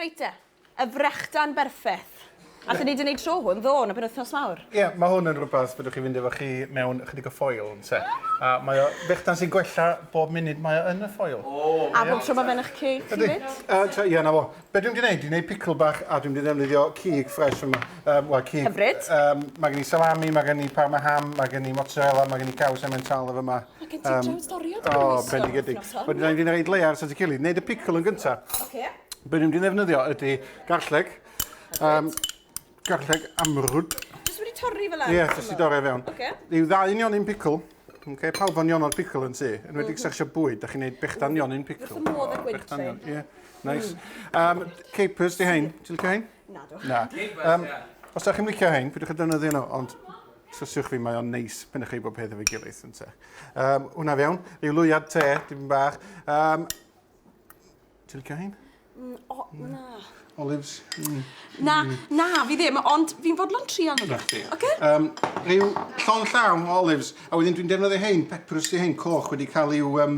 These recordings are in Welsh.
Reit te. Y frechdan berffeth. Allen ni 'di neud tro hwn, ddo, yn y penwythnos mawr. Ie, ma' hwn yn rwbath fedrwch chi fynd efo chi mewn ychydig o ffoil, ynte. A mae o... Brechdan sy'n gwella bob munud mae o yn y ffoil. A bob tro ma' fe'n 'ych ceg chi 'fyd? Ydy. Yy ta- ie, 'na fo. Be' dwi'n mynd i neud, dwi'n neud picl bach a dwi'n mynd i ddefnyddio cig ffres yma. Yym, wel, cig... Hyfryd. Yym, ma' gen i salami, ma' gen i parma ham, ma' gen i mozzarella, ma' gen i caws emmental yn fy 'ma. Mae gen ti um, storio dy gymwys. O, bendigedig. Wedyn rhaid i'n rhaid lear sy'n cili. Neud y picl yn gynta. Oce. Be ni'n mynd ddefnyddio ydy garlleg. Um, garlleg amrwd. Jyst wedi torri fel arall. Ie, jyst wedi torri fewn. Oce. Yw ddau yn ionyn picl. Oce, pawb o'n ionod picl yn ti. Yn wedi mhm. sersio bwyd, da chi'n neud bechdan ionyn picl. Wrth y modd ag wyntre. Ie, nice. Um, capers di hein, ti'n licio hein? Na, do. Na. Um, os da chi'n licio hein, pwydwch y defnyddio nhw, ond Trwsiwch fi, mae o'n neis pen chi bod peth efo'i gilydd, yn te. Um, hwna fewn, rhyw lwyad te, dim bach. Um, Ti'n licio hyn? Mm, o, na. Olives? Mm. Na, na, fi ddim, ond fi'n fodlon trial nhw. Rhaid fi. Oce? Um, rhyw llon llawn o olives, a wedyn dwi'n defnyddio hein, pepperus di hein, coch wedi cael i'w um,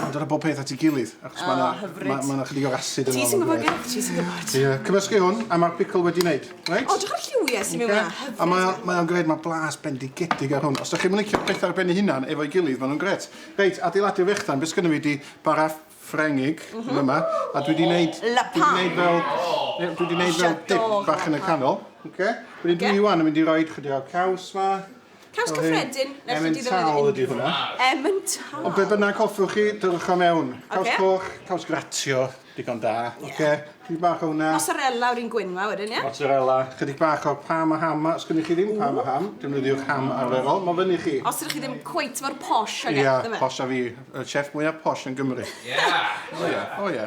Mae'n dod â bob peth at ei gilydd, achos mae yna ma, ma chydig o acid yn Ti sy'n gwybod, Gareth, ti sy'n gwybod. Ie, cymysgu hwn, a mae'r pickle wedi wneud, reit? O, drwy'r lliwiau sy'n mynd yna, hyfryd. A mae, mae o'n gred, mae blas bendigedig ar hwn. Os ydych chi'n licio pethau ar ben ei hunan efo'i gilydd, maen nhw'n gret. Reit, adeiladu'r fechdan, beth sgynno fi di bara ffrengig mm -hmm. yma, a dwi wedi wneud... La pan! Dwi wedi fel, dwi wedi wneud fel dip bach yn y canol. Okay. Wedyn okay. dwi iwan yn mynd i roi chydig o'r caws ma. Caws cyffredin nes i ti ddefnyddio unrhyw un. Emmental ydi hwnna. Emmental. Ond be bynnag hoffwch chi, dyrwch o mewn. Caws coch, caws gratio, digon da. Oce, chydig bach o hwnna. Mozzarella o'r un gwyn 'ma wedyn, ie? Mozzarella, chydig bach o pam a ham 'ma. Os gynnoch chi ddim pam a ham, defnyddiwch ham arferol, ma' fyny i chi. Os ydych chi ddim cweit mor posh ag e, dyfe? Ia, posh a fi. Y chef mwya posh yn Gymru. Ie! O ie, o ie.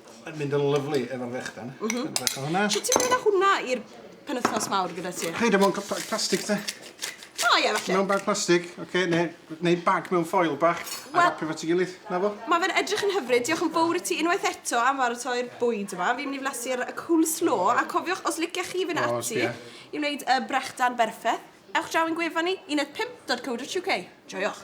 Mae'n mynd yn lyflu efo'r fechdan. Mm -hmm. Bach o hwnna. Sut ti'n mynd â hwnna i'r penwthnos mawr gyda ti? Hei, dim ond bag plastig te. O ie, falle. Mewn bag plastig, oce, okay, neu, neu bag mewn ffoil bach, a well, rapio fo ti gilydd, na fo? Mae fe'n edrych yn hyfryd, diolch yn fawr i ti unwaith eto am faratoi'r bwyd yma. Fi'n mynd i flasu'r cool slow, a cofiwch, os liciach chi fynd oh, ati i wneud y brechdan berffaith, ewch draw yn gwefan ni, 15.co.uk. Joiwch!